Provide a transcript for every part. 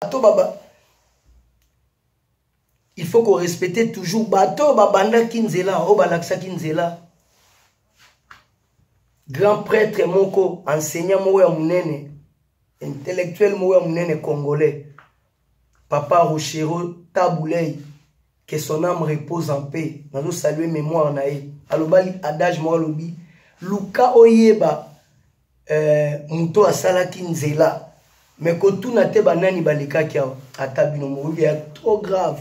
bato baba il faut korespecte toujours bato oyo babandaki nzela oyo balakisaki nzela grand prêtre moko enseignant moko ya monene intellectuel moko ya monene congolais papa rochero tabulei que son âme repose en paix nazo salue mémoire na ye alobali adage moko alobi luka oyeba eh, moto oyo asalaki nzela me kotuna te banani balekaki awa ata bino moyebi ya trop grave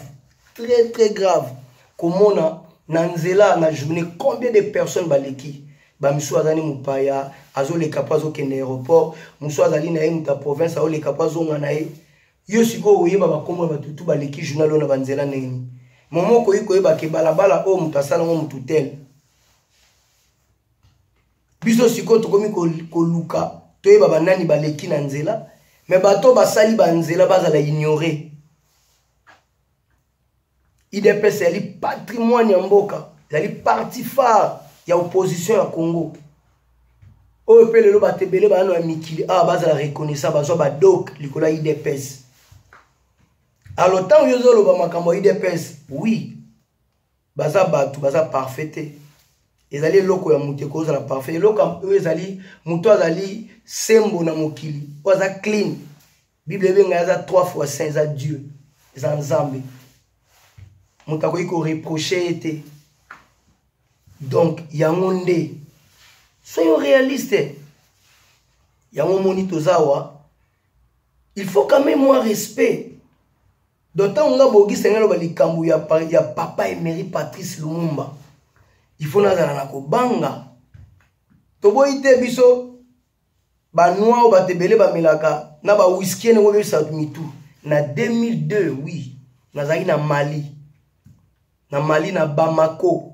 très très grave komona na nzela na journée combien de personnes baleki bamisusu azali mopaya azoleka mpo azokende aéroport mosusu azali na ye moto ya province aoleka mpo azonga na ye yo sikoyo oyeba bakombo ya batutu baleki journal oyo na banzela ndenge nini momo okoki koyeba ke balabala oyo moto asala yango motu tele biso sikoyo tokomi koluka toyeba banani baleki na nzela me bato basali banzela bazala ignore idps ezali patrimoine ya mboka ezali parti phare ya opposition ya congo oyo mpe lelo bato ebele baano ya mikili awa bazala reconnaissant bazwa badok likolo ya idps alo ntango yo ozoloba makambo ya idps oui baza bato baza parfait te ezali eloko ya moto ekoki ozala parfait eloko oyo ezali moto azali sembo na mokili oyo aza clean bible ebenga ye aza trois fois saint eza dieu eza nzambe moto akoki koreproche ye te donc yango nde soyo réaliste yango omoni toza wa il faut quand même mwa respect donc ntango nga bogisa ngai aloba likambo ya, ya papa emery patrice lumumba ifo nazala na kobanga toboyi te biso banoi oyo bato ebele bamelaka na bawiskien yango bebisa bato mitu na 2002 wi nazalaki na mali na mali na bamako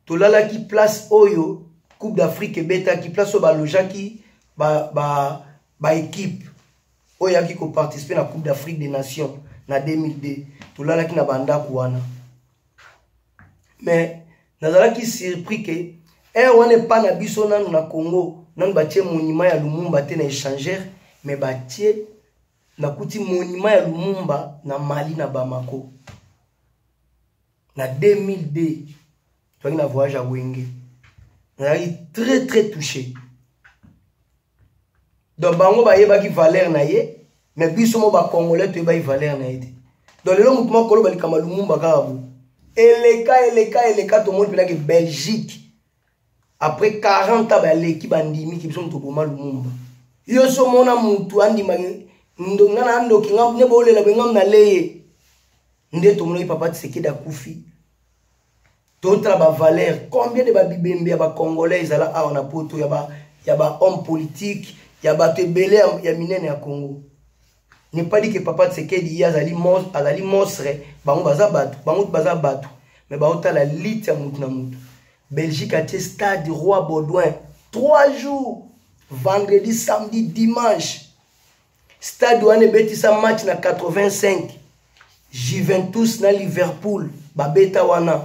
tolalaki place oyo coupe d'afrique ebetaki place oyo balojaki baekipe ba, ba, ba oyo eyaki koparticipe na coupe d'afrique des nations na 2002 tolalaki na bandako wana mais nazalaki surpris ke ere wana epa na biso nanu na congo nanu batie monima ya lumumba te na échangeur mais batie nakuti monima ya lumumba na mali na bamako na 2002 toyaki na voyage ya wenge nazalaki très très touché donc bango bayebaki valeur na ye me biso mo bacongolais toyebaki valeur na ye te donc lelo motu moko koloba likambo ya lumumba kaka bo eleka eleka eleka tomoni mpenaki belgique après 40 ans baleki bandimi ke biso moto oboma lumumba yo so omona motu andimaki nga na ndoki nga ne bolela boye nga naleye nde tomonaki papa tisekedi akufi totala bavaleur combien de babibembe ya bacongolais ezala awa na poto ya bahomme politique ya bato ebele ya minene ya congo ne pas dit que papa tsekedi ye azali azali monstre bango baza bato bango baza bato mais baotala lite ya motu na motu belgique atie stade roi baudouin trois jours vendredi samedi dimanche stade wana ebetisa match na 85 juventus na liverpool babeta wana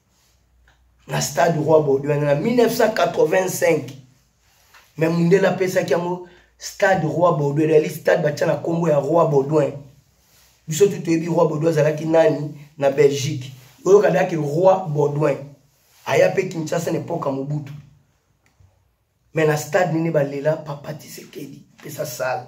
na stade roi bodo wana na 1985 me mundele apesaki yango stade roi baudouin ezali stade batya na nkombo ya roi baudouin biso tu toyebi roi baudouin azalaki nani na belgique oyoka azalaki roi baudouin aya mpe kinshasa na epoke ya mobutu me na stade nini balela papa tisekedi pesa sale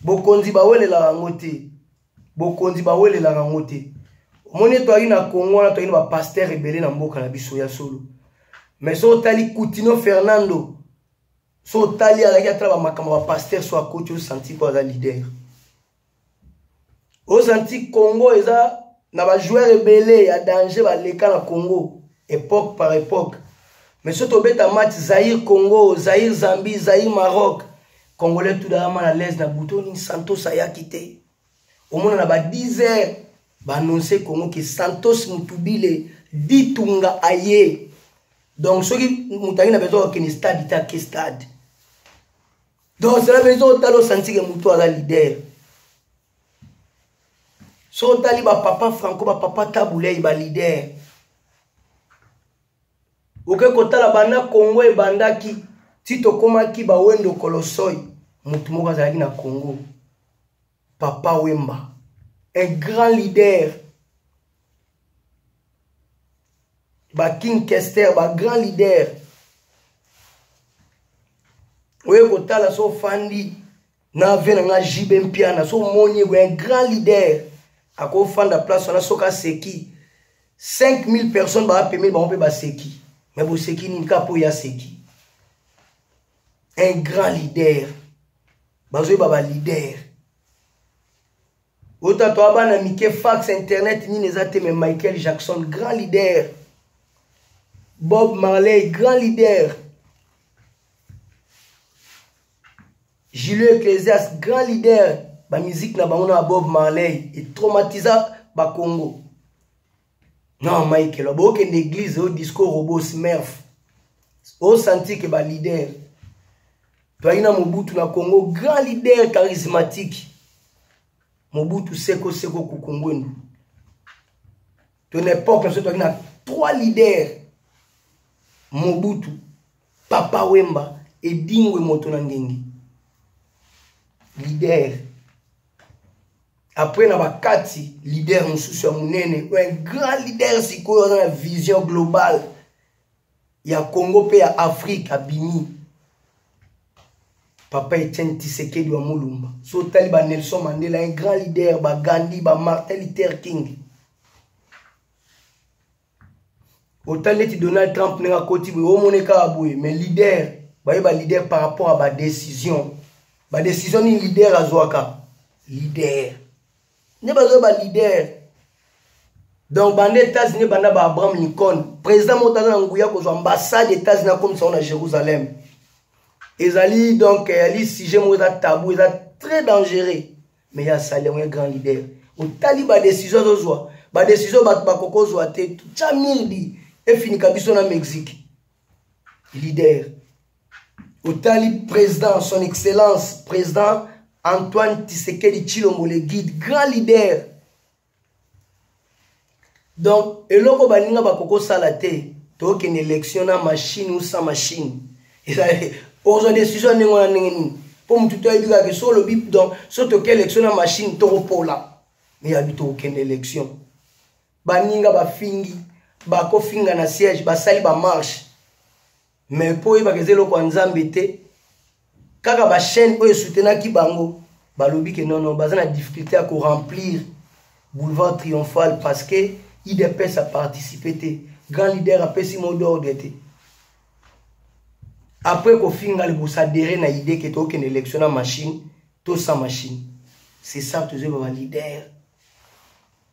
bokonzi bawelelaka yango te bokonzi bawelelaka yango te omoni toyaki na congo wana toyaki na bapaster ebele na mboka na biso ya solo mais so otali kutino fernando so otali azalaki atala bamakambo bapaster so akoti osanti mpo aza leader ozanti congo eza na bajoueur ebele ya danger baleka na congo époque par époque mais soki tobeta match zaire congo zaire zambie zaire maroc congolais tudaka mal à l'aise na butoni santos ayaki te omona na ba 10 heures baannonce congo ke santos mutubile ditunga aye donc soki moto alingi na besoin kokende stade te ake stade donc cela veut dire otali osantike motu aza leader so otali bapapa franco bapapa tabulei baleader oke kotala banda congo ebandaki ti tokomaki bawendo kolosoi motu moko azalaki na congo Papa Wemba, un grand leader. Ba King Kester, ba grand leader. Oye kotala so fandi na vie na nga JB Mpiana so moni un grand leader akofanda place wana soki aseki 5000 personnes baapemeli bango mpe baseki me boseki nini kaka mpo ye aseki un grand leader bazoyeba ba leader oyo tatu abana mike fax internet nini eza te me michael jackson grand leader bob marley grand leader julio ecclesias grand leader bamiziki na bango na bob marley etraumatisa bakongo Non, Michael, oboke l'église au discours robot Smurf. Au senti que ba leader. Toyina Mobutu na Congo, grand leader charismatique. Mobutu seko seko kukungwenu. Ton époque, on se toyina trois leaders. Mobutu, Papa Wemba et Dingwe Motonangenge. Leader. après na bakati leader mosusu ya monene un grand leader sikoyo aza na vision globale ya congo mpe ya afrique abimi papa etienne tisekedi wa molumba so otali ba nelson mandela un grand leader bagandi ba martin luther king ota neti donald trump ndenge akoti boye omoni kaka boye mais leader baye baleader par rapport ya badécision badécision nini leader azwaka leader nde bazwa baleader donc banda états-unis banda ba abraham lincoln président moko aza na nguya kozwa ambassade états-unis akomisa yango na jérusalem ezali donc ezali sujet moko eza tabou eza très dangereux mais ya sali yango ye grand leader otali badesizio azozwa badesizio bato bakokozwa te tya mingi efinika biso na mexique leader otali président son excellence président antoine tisekedi tshilombo le guide grand leader donc eloko baninga bakoki kosala te tokende élection na machine ou sans machine ezali okozwa décision ndenge wana ndenge nini mpo motu to ayebi kaka so olobi donc so toke élection na machine tokopola me yabi tokokende élection baninga bafingi bakofinga na siège basali bamarche mais mpo oyebaka eza eloko ya nzambe te kaka bachaîne oyo esoutenaki bango balobi ke nono baza na difficulté ya koremplir boulevard triomphal parce que idps aparticipe te grand leader apesi mot d'ordre te après kofinga liboso adere na idée ke tokokende élection na machine to sans machine c'est ça tozoyeba baleader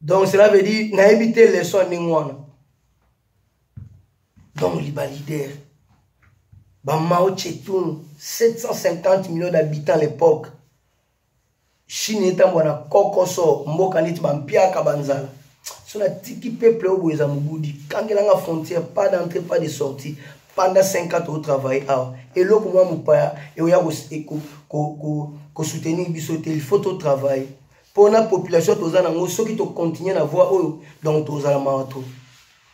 donc cela veut dire nayebi te leçon ya ndenge wana donc liba leader bamao chetunu 750 million d'habitants à l'époque chine etambwa na kokoso mboka neti bampiaka banzala so natiki peuple oyo boye eza mobudi kangelanga frontière pas d'entrée pas de sortie pendant 5 ans totravaille awa eloko mwa mopaya eoya kosoutenir biso te il faut totravaille pona population toza nango soki to continuer na voie oyo donc tozala mawa to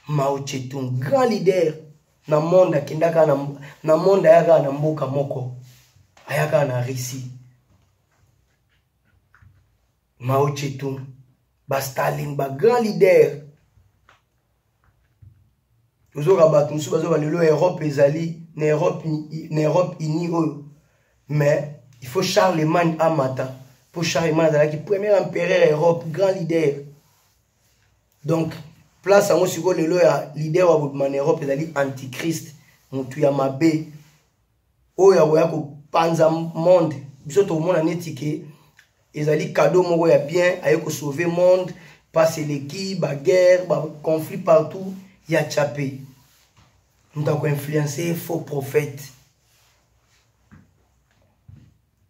Mao Tse-tung grand leader na monde akendaka na, na monde ayaka na mboka moko ayaka na Russie Mao Tse-tung ba Stalin ba grand leader tozoka bato mosusu bazoka lelo europe ezali na europe, na europe uni oyo mais il faut charlemagne amata mpo charlemagne azalaki premier empereur ya europe grand leader donc place yango sikoyo lelo ya leader wa bobima na europe ezali antichrist motu ya mabe oyo akoya kopanza monde biso tokomona neti ke ezali cadeau moko ya bien aye kosauve monde mpasi eleki baguerre baconflit partout ya chape moto akoinfluence faux prophète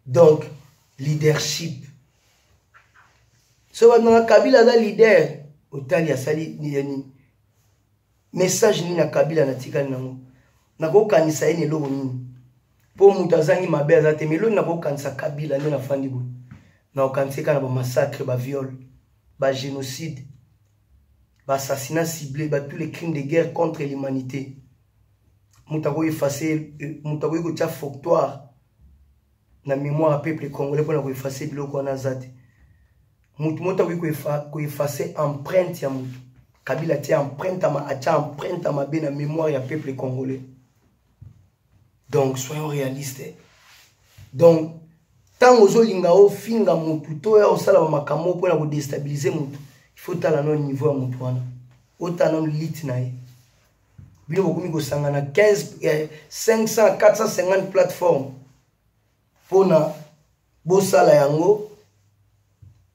donc leadership soki batanga kabila aza leader otali asali nini message nini ya kabila natikali nango nakokanisa ye na eloko nini mpo moto azangi mabe aza te meloni nakokanisa kabila nde nafandi boye nakokanisa eka na bamassacre baviole bagénocide baassassinat ciblé ba tous les crimes de guerre contre l'humanité moto akoki efase moto akoki kotia foctoire na mémoire ya peuple congolais mpona koefase biloko wana aza te motu moto akoki koefase empreinte ya motu kabila atia empreinte atya empreinte ya mabe na mémoire ya peuple congolais donc soyons réaliste donc ntango ozolinga ofinga motu to ya osala bamakambo moko mpona kodestabilize motu ifo otala no niveau ya motu wana otala no lite na ye bino bokomi kosangana 15 eh, 500 450 plateforme mpona bosala yango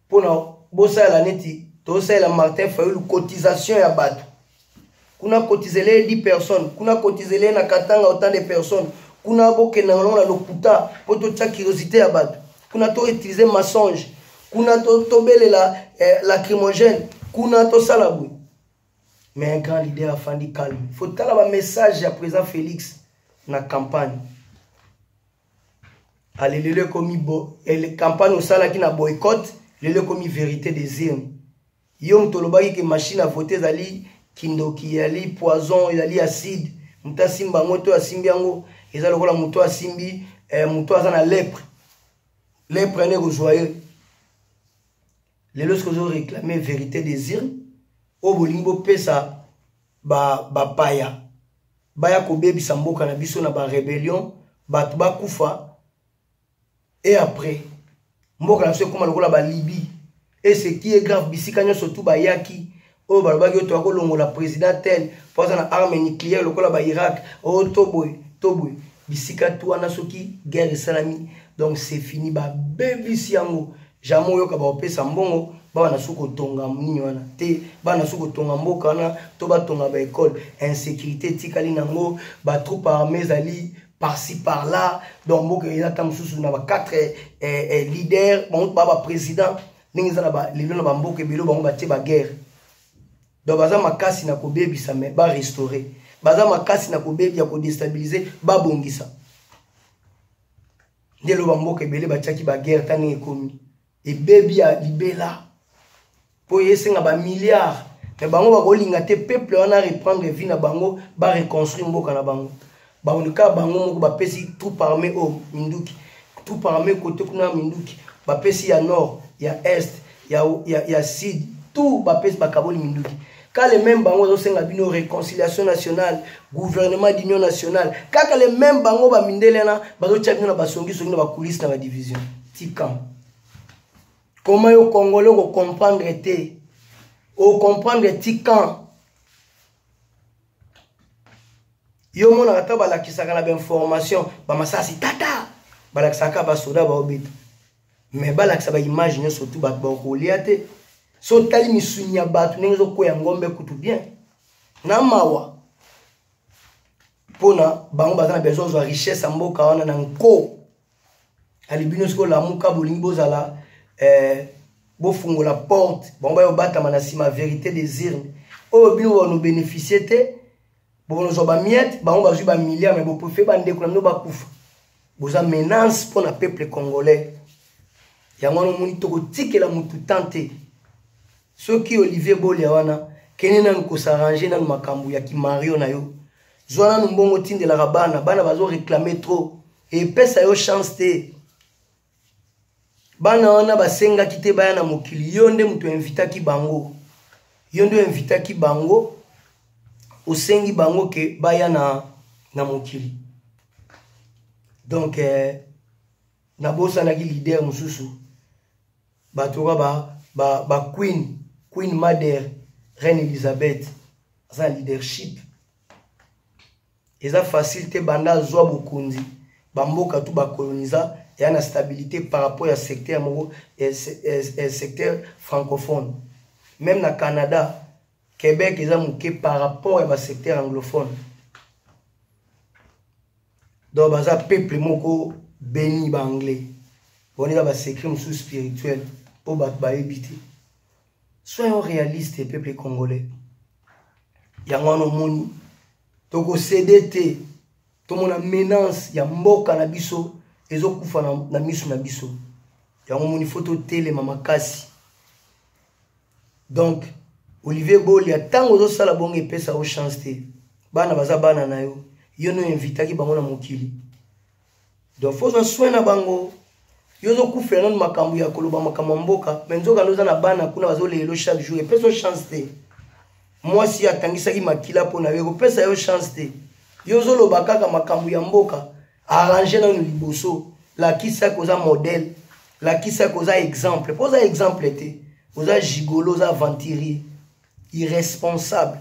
mpona bosalela neti tosalela martin fayulu cotisation ya bato kuna kotizele ye 10 personnes kuna kotizele ye na katanga autant de personnes kuna bokenda yango na lokuta mpo totya curiosité ya bato kuna toutilize mensonge kuna tobelela eh, lacrymogène kuna tosala boye mais un grand leader afandi calme faut tala ba message ya président félix na campagne alelelo ekomi bo ele campagne osalaki na boycott lelo ekomi vérité des urnes yo moto olobaki ke machine a vote ezali kindoki ezali poison ezali acide moto asimba yango to asimbi yango eza lokola moto asimbi eh, moto aza na lepre lepre yango ekozwa ye lelo soki ozo réclame vérité des urnes oyo bolingi bopesa bapaya ba baya kobebisa mboka na biso na barébellion bato bakufa e après mboka na biso ekóma lokola balibi e ce qui est grave bisika nyonso tu bayaki oyo balobaki oyo toya kolongola président tel mpo aza na arme nucléaire lokola ba irak oyo oh, to boye to boye bisika tu wana soki guerre esalami donc c'est fini babebisi yango jamai oyoka bakopesa mbongo bana su kotonga nini wana te bana su kotonga mboka wana to batonga baekole insécurité etikali nango batroupe armé ezali par-ci par-là donc mboka eza ntango mosusu na ba 4 eh, eh, eh, leader bango baa baprésident ndenge eza na lelo na bamboka ebele bango batie baguerre donc baza makasi na kobebisa me barestaure baza makasi na kobebi ya kodestabilize babongisa nde loba mboka ebele batiaki baguerre ta ndenge ekomi ebebi ya libela mpo esenga bamilliard me bango bakolinga te peuple wana reprendre vie na bango bareconstruire mboka na bango baonika bango moko bapesi troupe armé oyo oh, minduki troupe armé kote kuna ya minduki bapesi ya nord ya est ya, ya, ya sud tout bapesi bakaboli minduki ka le même bango azosenga bino réconciliation nationale gouvernement d'union nationale kaka le même bango bamindele wana bazotya bino na basongisongi na bakulise na badivision tika koma yo congolais okocomprendre te ocomprendre tikan yo omonaka ta balakisaka na bainformation bamasasi tata balakisaka basoda baobeta me balakisa baimage nyonso tu bato bakolia te so otali misuni ya bato ndenge ezokweya ngombe kutu bien na mawa mpona bango baza na besoin ozwa richesse ya mboka wana na nko alibino sikoyo lamuka bolingi bozala eh, bofungola porte bango bayo batama na nsima verité des urnes oyo bino bano bénéficie te bokozwa bamiete bango bazwi bamilliard mai boprofe bandeko na bino bakufa boza menace mpo na peuple congolais yango wana omoni tokotikela motu temps te soki olivier bolia wana kende nanu kosarange nanu makambo ya kimario na yo zwa nanu mbongo tindelaka bana bana bazoreklame trop epesa yo chance te bana wana basengaki te baya na mokili yo nde moto invitaki bango yo nde invitaki bango osengi bango ke baya na, na mokili donc eh, nabosanaki lider mosusu bato oka ba, ba, ba queen queen mader reine elizabeth aza na leadership eza facile te banda azwa bokonzi bamboka tu bacolonisa eya na stabilité par rapport ya secteur moko eh, eh, eh, secteur francophone même na canada québec eza moke par rapport ya basecteur anglophone donc baza peuple moko beni baanglais wana eza basecret mosusu spirituel mpo bato bayebi te soyons réaliste peuple congolais yango wana omoni tokosede te tomona menace ya mboka na biso ezokufa na, na miso na biso yango omoni fo totelema makasi donc olivier bolia ntango ozosala bongo epesa yo chance te bana baza bana na yo yo no invitaki bango na mokili donc faut ozwa soin na bango yo ozokufela nano makambo ya koloba makambo ya mboka me nzokande oza na bana kuna bazolelelo chaque jour epesi yo chance te mwasi ye atangisaki makila mpo na yo ekopesa yo chance te yo ozoloba kaka makambo ya mboka arrange nano liboso lakisa yake oza modele lakisa yake oza exemple mpo oza exemple te oza gigolo oza aventurier irresponsable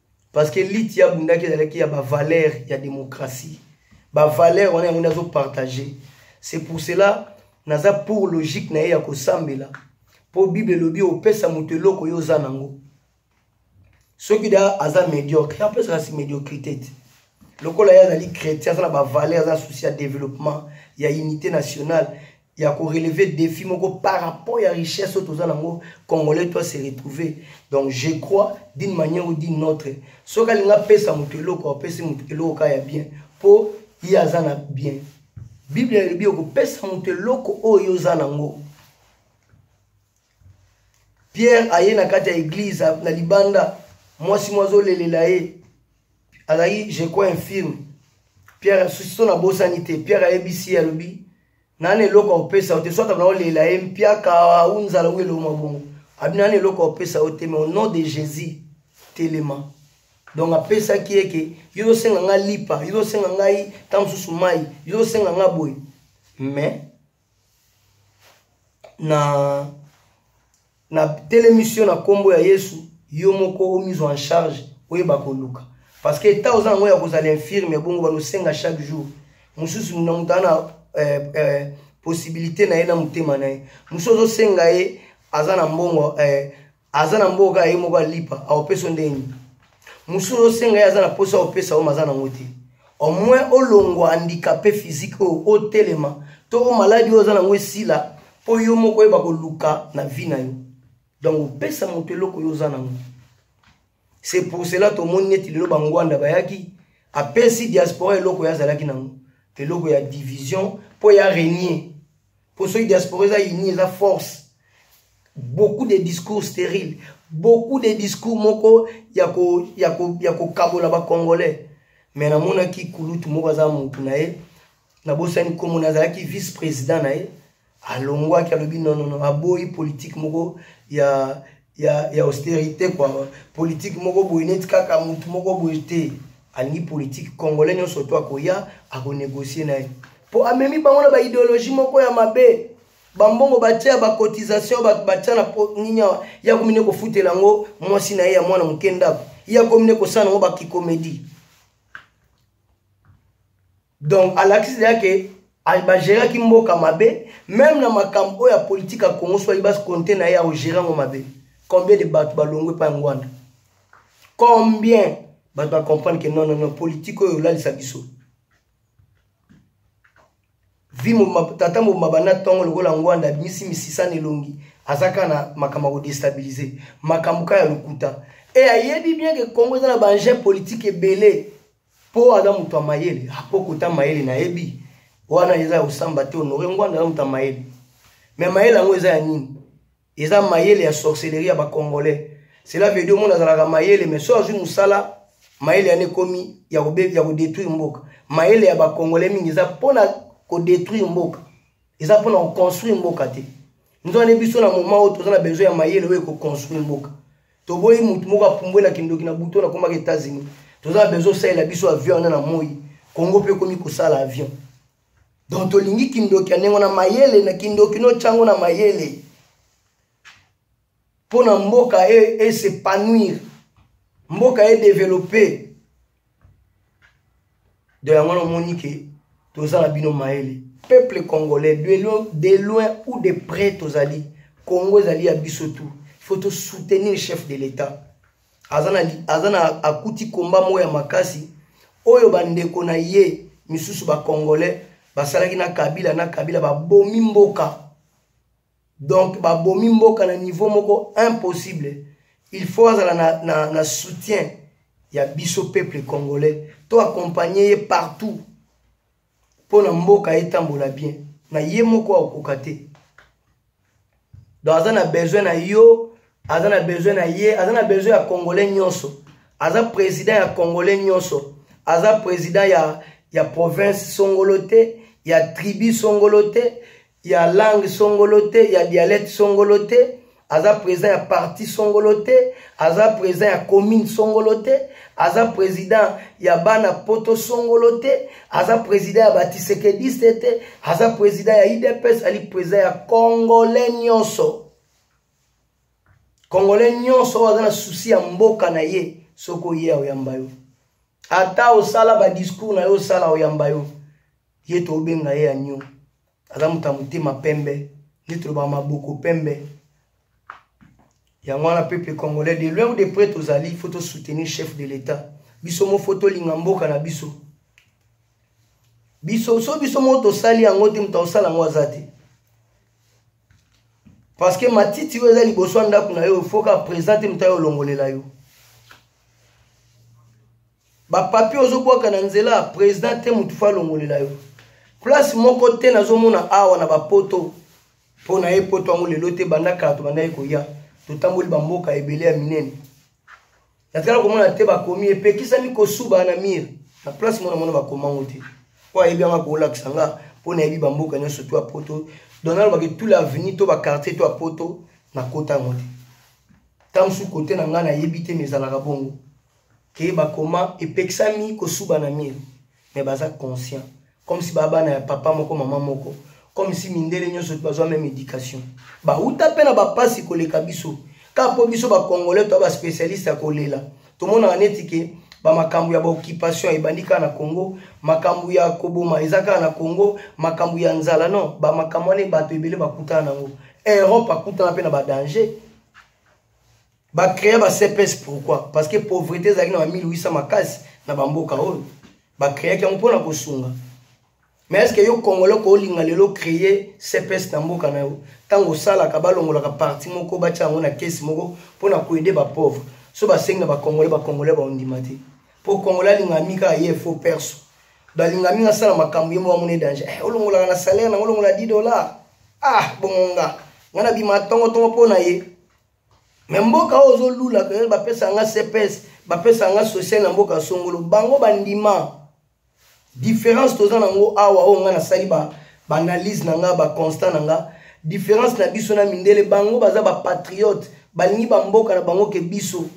parce que lite ya bundaki ezalaki ya bavaleur ya démocratie bavaleur wana yango nde azopartage c'est pour cela naza pour logique na ye ya kosambela mpo bible elobi opesa moto eloko yo oza nango soki da aza médiocre ye apesaka si médiocrité te lokola ye azali chrétien aza na bavaleur aza na souci ya développement ya unité nationale ya ko relever défi moko par rapport ya richesse oyo toza nango congolais toi se retrouver donc je crois d'une manière ou d'une autre soki alingi apesa moto eloko apesi moto eloko kaka ya bien mpo ye aza na bien biblia elobi okopesa moto eloko oyo oza nango pierre aye na kati ya eglize na libanda mwasi mwa azolelela ye azalaki je crois infirme pierre soso nabosani te pierre ayebisi ye alobi nani eloko akopesa yo te soit abina olela ye mpiaka ou nzala ou eloko mabongo abina nani eloko akopesa yo te mais au nom de jésus telema donc apesaki ye ke yo osenga ngai lipa yo osenga ngai ntango mosusu mai yo osenga ngai boye mais na na telemisi yo na nkombo ya yesu yo moko omise en charge oyeba koluka parce que eta oza yango ya kozala infirme bongo banosenga chaque jour mosusu na moto ana eh, eh, possibilité na ye na motema na ye mosusu ozosenga ye aza na mbongo eh, aza na mboka ye moko alipa aopesa ndenge nini mosusu osenga ye aza na mposa opesa oyo aza nango te au moins olongwa handicapé physique oyo otelema to o maladi oyo oza nango esila mpo yo moko oyeba koluka na vie na yo donc opesa moto eloko yo oza nango c'est pour cela tomoni neti lelo bangwanda bayaki apesi diaspora eloko ye azalaki nango eloko ya division mpo ya renie Pour ceux diaspora eza unis eza force. Beaucoup de discours stériles, beaucoup de discours moko ya ko ya ko ya ko kabola ba congolais. Mais na mona ki kulutu moko aza mutu na ye. Na bosani komo nazalaki vice président na ye. Alongwaki alobi non non non aboyi politique moko ya ya, ya austerité kwa politike moko boye neti kaka motu moko boye te alingi politike congolais nyonso to akoya akonegocie na ye mpo amemi bango na baideologie moko ya mabe bambongo batya ya bacotisation bato batya na nini awa ye akomi nde kofutela yango mwasi na ye ya mwana moke ndako ye akomi nde kosala nango bakikomedi donc alakisi deja ke bageraki mboka mabe meme na makambo oyo ya politike ya congo so ayibas konte na ye akogere yango mabe combien de bato balongwe epai ya ngwanda combien bato bacomprendre ke non non non politike oyo olalisa biso vi tata mobima banda ntongo lokola ngwanda abimisi misisa na elongi aza kaka na makambo ya kodestabilize makambo kaka ya lokuta e ayebi bien ke congo eza na baengin politike ebele mpo aza moto ya mayele apokota mayele nayebi wana eza ya kosamba te honore ngwanda aza moto ya mayele me mayele yango eza ya nini eza mayele ya sorcellerie ya bacongolais cela veut dire omona azalaka mayele me so azwi mosala mayele yana ekomi ya kodetruire mboka mayele ya bacongolais mingi eza mpo na kodetruire mboka eza mpo na koconstruire mboka te nzwane biso na moment oyo toza na besoin ya mayele oyo ekoconstruire mboka toboyi motu moko apumbwela kindoki na buto na komaka états-unis toza na besoin osalela biso avion wana na moi congo mpe ekomi kosala avion donc tolingi kindoki ya ndenge na mayele na kindoki notyango na mayele mpo na mboka esepanouir e mboka edeveloppe de yango wana omoni ke toza na bino mayele peuple congolais de loin, de loin ou de près tozali congo ezali ya biso tout faut tosoutenir chef de l'état aza na, aza na akuti komba moko ya makasi oyo bandeko na ye misusu bacongolais basalaki na kabila na kabila babomi mboka donc babomi mboka na niveau moko impossible il faut azala na, na, na soutien ya biso peuple congolais to accompagne ye partout mpo na mboka etambola bien na ye moko akokoka te donc aza na besoin na yo aza na besoin na ye aza na besoin ya congolais nyonso aza président ya congolais nyonso aza président ya, ya province songolo te ya tribu songolo te ya langue songolo te ya dialecte songolo te aza président ya parti songolo te aza président ya commune songolo te aza président ya bana poto songolo te aza président ya batisekediste te aza président ya idps ali président ya congolais nyonso congolais nyonso oyo aza na susi ya mboka na ye soki oye oyamba yo ata osala badiscours na yo osala oyamba yo ye tobenga ye anyo aza moto ya motema pembe nde tolobaka maboko pembe yango wana peuple congolais de loin ou de près tozali il faut tosoutenir chef de l'état biso mo fo tolinga mboka na biso biso so biso moko tosali yango te moto akosala yango aza te parce que matiti oyo eza liboso ya ndako na yo fo ka présente moto ayo olongolela yo bapapie ozobwaka na nzela ya president te motu fa alongolela yo place moko te nazomona awa na bapoto mpo na ye poto yango lelo te banda kala tobandaki koya totamboli bamboka ebele ya minene natikala komona te bakomi epekisami kosuba na mire na place mona mona bakoma yango te mpo ayebi yango akolakisa nga mpo nayebi bamboka nyonso to ya poto don alobaki tout l'avenir to baquartier to ya poto nakota yango te ntango mosusu kote na ngai nayebi te mezalaka bongo ke bakoma epekisami kosuba na mire mais baza conscient comme si babana ya papa moko mama moko comme si mindele nyonso bazwa meme éducation bauta mpe na bapasi koleka biso kaka mpo biso bacongolais to baspécialiste ya kolela tomonaka neti ke bamakambo ya baoccupation ebandi kaka na congo makambo ya koboma eza kaka na congo makambo ya nzala non bamakambo wana bato ebele bakutana na yango europe akutana mpe na badanger ba créer ba CPS pourquoi parce que pauvreté ezalaki na 1800 makasi na ba mboka oyo ba créer yango pona ko sunga mais est-ce que yo congolais ko linga lelo créer CPS na mboka na yo tango sala ka balongola ka parti moko ba tia na caisse moko pona ko aider ba pauvre so ba senga ba congolais ba congolais ba ondima te po congolais linga mika ye faux perso ba linga minga sala makambo ye mo amone danger eh olongola na salaire na olongola 10 dollars ah bonga ngana bima tongo tongo pona ye me mboka oyo ozolula eh, bapesa nga cps bapesa nga social na mboka songolo bango bandima différence toza nango awa oyo nga nasali ba baanalyse na nga baconstat na nga différence na biso na mindele bango baza bapatriote balingi bamboka na bango ke biso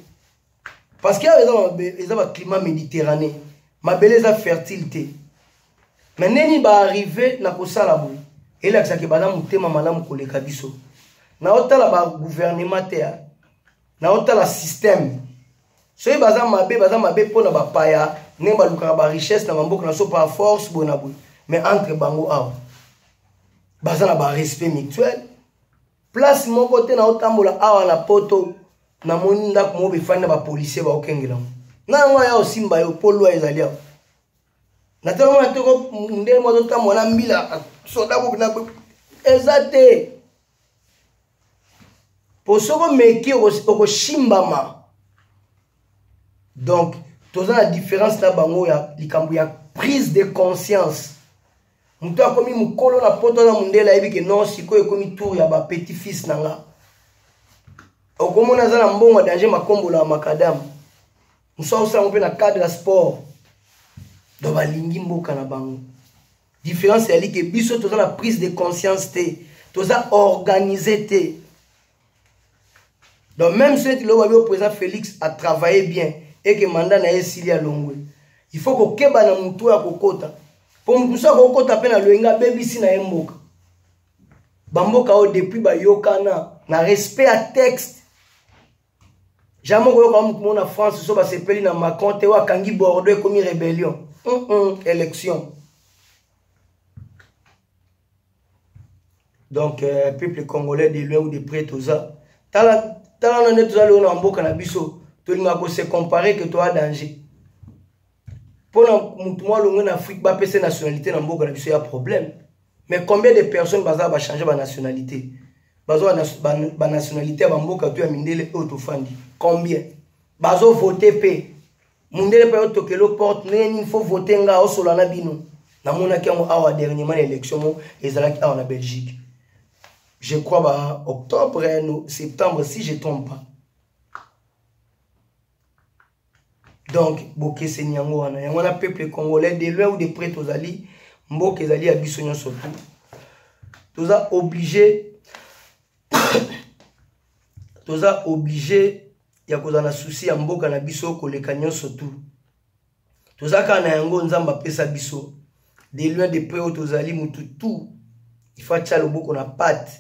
parce que awa eza baclimat méditerranée mabele eza fertile te me ndeni baarrive na kosala boye elakisaki baza motema malamu koleka biso naotala baguvernema te naotala système soki baza mabe baza mabe mpo na bapaya ndenge balukaka barichesse na bamboka na so par force boye na boye mais entre bango awa baza na barespect mutuel place moko te naotambola awa na poto namoni ndako moko befandi na bapolisier baokengela yango na yango aya osimba yo mpo lwa ezali awa natalongo na toko ndenge moko azotambola na mbila soda bobina eza te mpo soki omeki okosimbama donc toza na différence na bango ya likambo ya prise de conscience moto akomi mokolo na poto na mondele ayebi ke non sikoyo ekomi tour ya bapetit fils na nga okomona aza na mbongo ya danger makombola ya makadamu mosusu aosango mpe na cadre ya sport donc balingi mboka na bango différence eyali ke biso toza na prise de conscience te toza organise te donc même soki loba yo président félix atravaille bien eke manda na ye esili alongwe il faut kokeba na motu oyo akokota mpo motu mosusu akokota mpe na loyenge abebisi na ye mboka bamboka oyo depuis bayokana na respect ya texte jamai okoyoka motu moko na france so basepeli na macron te oyo akangi bordeaux ekomi rebellion mm -mm, élection donc euh, peuple congolais de loin ou de près toza tala tala na nde toza lelo na mboka na biso tolingaka kose compare ke toa danger mpo na motu mwa longwe na afrique bapesa nationalité na mboka na biso ya problème mais combien de personnes baza bachange banationalité bazwa banationalité ya bamboka to ya mindele oyo tofandi combien bazovote mpe mundele mpe otokelo porte ndenge nini fo vote nga osola na bino namonaki yango awa dernièrement na élection mo ezalaki awa na belgique je crois ba octobre no septembre si je trompe pas donc bokeseni yango wana yango wana peuple congolais de loin ou de près tozali mboka ezali ya biso nyonso tu toza oblige toza oblige ya kozala na susi ya mboka na biso koleka nyonso tu toza kaka na yango nzambe apesa biso de loin de peu oyo tozali motu tu ifo atya loboko na pate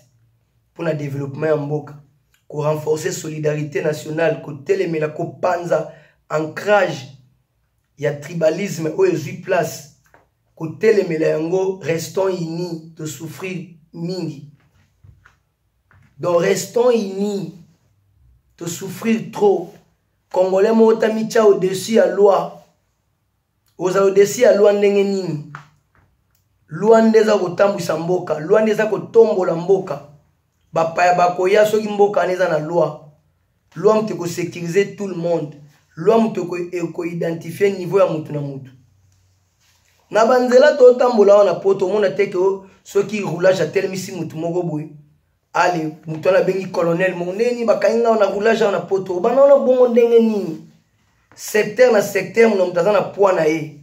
mpo na developement ya mboka korenforce solidarité nationale kotelemela kopanza ancrage ya tribalisme oyo ezwi place kotelemela yango reston uni tosouffrir mingi donc reston uni tosouffrir trop congolais moko tamitya au-dessus ya loi ozala au-dessus ya loi ndenge nini loi nde eza kotambwisa mboka loi nde eza kotombola mboka bapaya bakoya soki mboka wana eza na loi loi moto ekosécurise tout le monde loi moto ekoidentifie niveau ya motu na motu na banzela totambola wana po tomona te ke soki roulage atelemisi motu moko boye ale motu wana abengi colonel moneni bakangi nga na roulage wana poto obana wana bongo ndenge nini secteur na secteur mona moto aza na poids na ye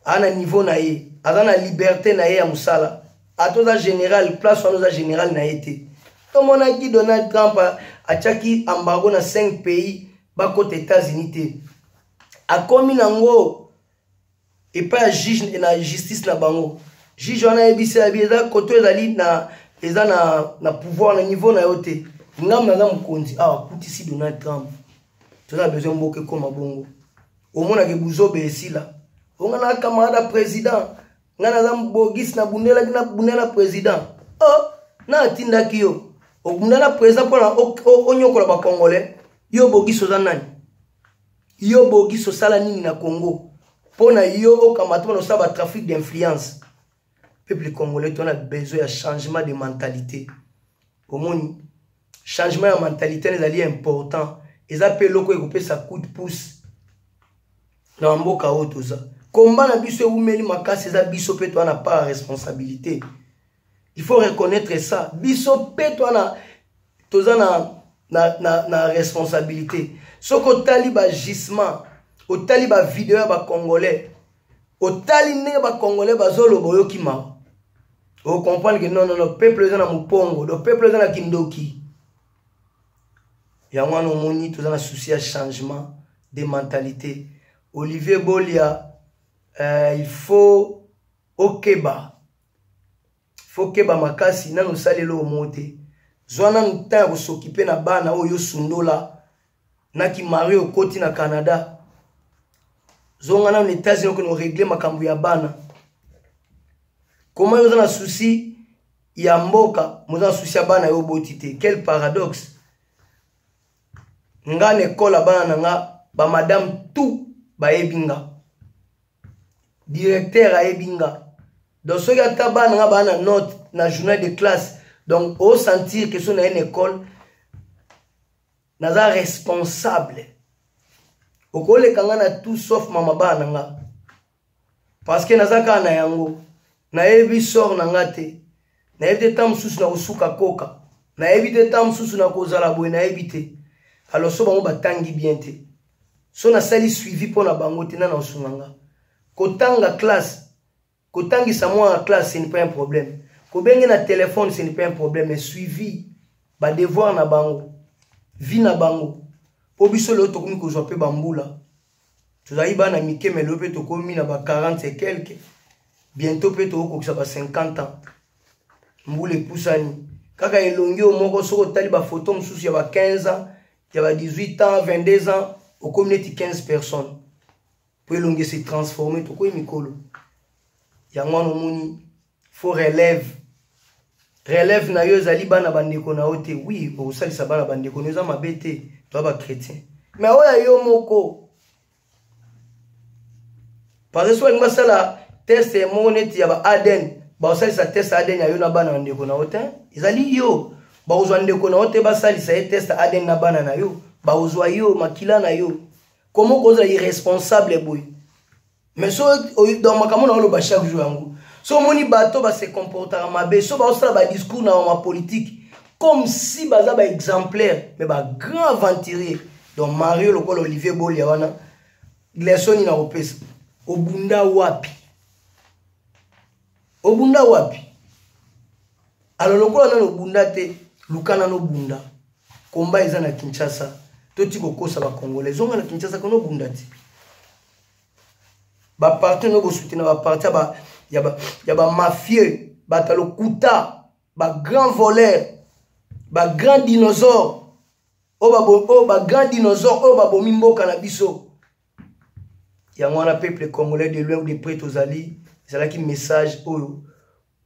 aza na niveau na ye aza na liberté na ye ya mosala ata oza général place wana oza général na ye te tomona guy donald trump atiaki embargo na 5 pays bakota états-unis te akomi nango epai ya juge na justice na bango juge wana ayebisi yabi eza koto ezali na eza na, na pouvoir na niveau na yo te ngambo naza mokonzi awa ah, akutisi donald trump toza na besoin mboka ekoma bongo omonaka buzobe esila onga na camarade ya président ngai naza bogis nabundelaki nabundela président o oh, na atindaki yo obundela président mpona onyokola bacongolais yo bogis oza nani yo bogis osala nini na congo mpo na yo okamata mpona osala batrafic d'influence peuple congolais tona besoin ya changement de mentalité omoni changement ya mentalité wana ezali important eza mpe eloko ekopesa coup de pouce na mboka oyo toza komba na biso ewumeli makasi eza biso mpe toa na part ya responsabilité il faut reconnaître ça biso mpe twana toza na, na, na, na responsabilité soki otali bagissement otali bavideo ya bacongolais otali ndenge bacongolais bazoloba oyoki mawa okomprendre ke nonono peuple eza na mopongo do peuple eza na kindoki yango wana omoni toza na souci ya changement de mentalité olivier bolia euh, il faut okeba fo keba makasi nanu osali eloko moko te zwa nanu ntan ya kosoki mpe na bana oyo osundola na kimari okoti na canada zonga nanu na etats-unis okende koregle makambo ya bana koma yo oza na susi ya mboka moza na susi ya bana yo oboti te quel paradoxe nga na ekola bana na nga bamadame tout bayebi nga directeur ayebi nga donc soki ata bana nga baa na note na journal de classe donc osentir ke so na ye na école naza responsable okoleka nga na tout sauf mama bana na nga parce que naza kaka na yango nayebi sort na nga te nayebi te ntango mosusu nakosuka koka nayebi te ntango mosusu nakozala boye nayebi te alors so bango batangi bien te so nasali suivi mpo na bango te nana osunga nga kotanga classe kotangisa mwana classe ce n'est pas un problème kobenge na telefone ce n'est pas un problème mais suivi badevoir na bango vie na bango mpo biso lelo tokomi kozwa mpe bambula tozali bana mike me lelo mpe tokomi na ba 40 et quelque bientôt mpe tokokokisa ba 50 ans mbula epusani kaka elongi oyo moko soki otali bafoto mosusu ya ba 15 ans ya ba 18 ans 22 ans okomi neti 15 personnes mpo elongi ese transforme tokoyi mikolo yango wana omoni fo relève relève na yo ezali bana bandeko na yo te wi okosalisa bana bandeko na yo eza mabe te toya bachrétien me oyo ya yo moko parce soki alingi basala test moko neti ya ba adn bakosalisa test adn ya yo na bana bandeko na yo te ezali yo bakozwa ndeko na yo te basalisa ye test adn na bana na yo bakozwa yo makila na yo komo kozala irresponsable boye mais so donc makambo na oloba chaque jour yango so omoni bato base comportaka mabe so baosala badiscours na bango mapolitike comme si baza baexemplaire mais bagrand aventurier donc mario lokola olivier bolia wana leso nini akopesa obunda wapi obunda wapi alo lokola nano obunda te luka nano obunda komba eza na kinshasa toti kokosa bacongolais ezonga na kinshasa kono obunda te baparti no bosutena baparti ya bamafieux bato ya lokuta bagrand voleur bagrand dinosaure oyo bagrand dinosaure oyo babomi mboka na biso yango wana peuple congolais de loin ou de près tozali ezalaki message oyo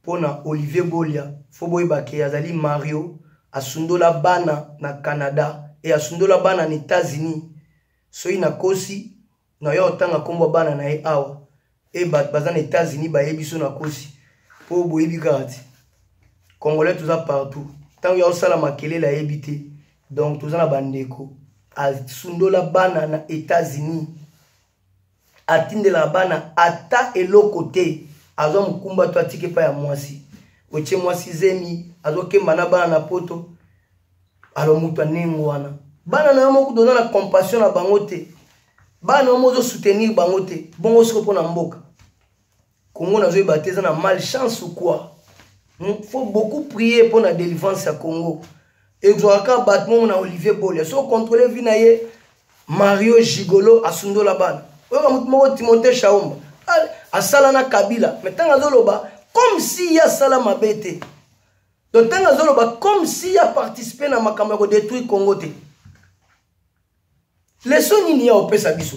mpo na olivier bolia fo boyebake azali mario asundola bana na canada e asundola bana na états-unis soki nakosi nayo otanga kombo ya bana na ye awa e bato baza na états-unis bayebi so nakosi mpo boyebi kaka te congolais toza partout ntango ya osala makelele ayebi te donc toza na bandeko asundola bana na états-unis atindelaka bana ata eloko te azwa mokumba to atiki epai ya mwasi otie mwasi zemi azokemba na bana na poto alo moto anengo wana bana na yo moko dona na compassion na bango te bana na yo moko ozosoutenir bango te bongo soko mpo na mboka Congo nazo yeba te eza na malchance ou quoi? Hmm? Faut beaucoup prier pona délivrance ya Congo. Ezwaka kaka bato momo na Olivier Bolia. So contrôler vie na ye Mario Gigolo asundola bana. Oyoka moto moko Timothée Shaomba asala na Kabila, mais ntango azoloba comme si ye asala mabe te. Donc ntango azoloba comme si ye aparticipe na makambo ya kodétruire Congo te. leso nini ya opesa biso